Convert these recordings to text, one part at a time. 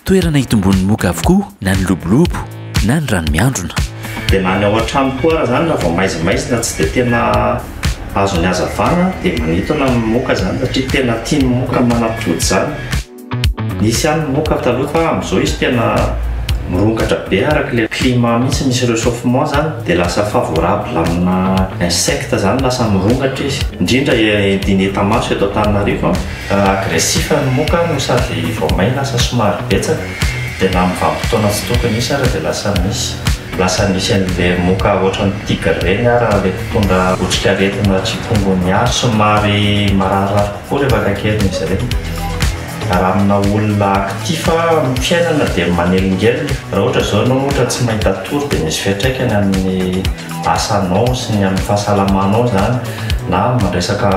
toerana hitombon'ny moka avokoa na ny lobolobo na ny rano miandrona dia na ny ao an-trano koa ara zany raha vao maizimaizina tsy dia tena azon'ny hazavana dia manintona ny moka zany satria tena tian'ny moka manapody zany Nisy ihany moa ka taloha fa amin'izao izy tena mirongatra be araka ilay climat mihitsy misy rechauffement zany dia lasa favorable amina insectes zany lasa mirongatra izy indrindra edy ny etamaso eto Antananarivo an, agressif ny moka no sady vao may lasa somary betsaka dia na amin'ny vanim-potoana tsy tokony hisy ara dia lasa misy, lasa misy an'ilay moka ohatran'ny tigre ireny ara ilay mpitondra otrikaretina chikungunya somary mararirary. Koa ilay vakan-keriny izy ireny. Raha amina olona actif amin'ny fiainana dia manelingelina. Raha ohatra izao ianao ohatra tsy mahita tory dia misy fiantraikany amin'ny asanao sy ny amin'ny fahasalamanao izany na amin'ny resaka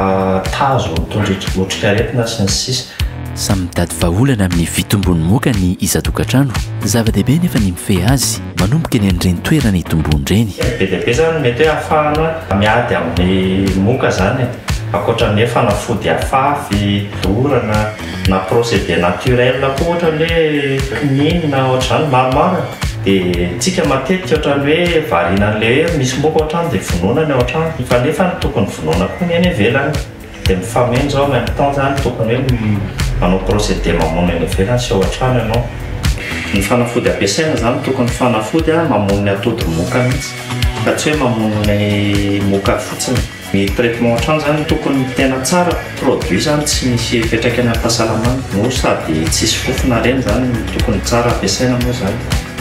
tazo mitondra otrikaretina sy ny sisa. Samy mitady vahaolana amin'ny fitombon'ny moka ny isan-tokantrano. Zava-dehibe nefa ny mifehy azy manomboka eny amin'ireny toerana itomboany ireny. Be dia be izany ny mety hoe ahafahana miady amin'ny moka izany e. Ankoatra ny hoe fanafody afafy, dorana, na procédé naturel koa ohatra ny hoe quinine na ohatr'izany maromaro e. Dia tsika matetika ohatrany hoe variana an'ilay hoe misy moka ao an-trano dia vonoina ny ao an-trano fa nefa tokony vonoina koa ny eny ivelany. Dia mifameno izao en même temps izany tokony hoe manao procédé mamono eny ivelany sy ao an-trano ianao. Ny fanafody ampiasaina izany tokony fanafody mamono ny atody moka mihitsy fa tsy hoe mamono ny moka fotsiny. Ny traitement hatrany zany tokony tena tsara produit zany tsy misy fiatraikany am pahasalamana no sady tsisy fofona reny zany no tokony tsara ampiasaina moa zany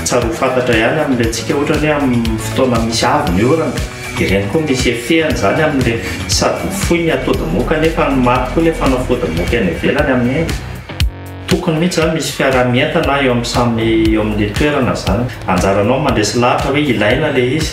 tsara ho fantatra ihany am le tsika ohatra ny hoe am fotoana misy avy ny orana de reny koa misy effet-any zany am le sady ho fohy ny atody moka nefa ny maty koa le fanafody moka any ivelany amin'iny Tokony mihitsy izany misy fiaraha-mientana eo amin'ny samy eo amin'ilay toerana izany. Anjaranao ny mandresy lahatra hoe ilaina ilay izy.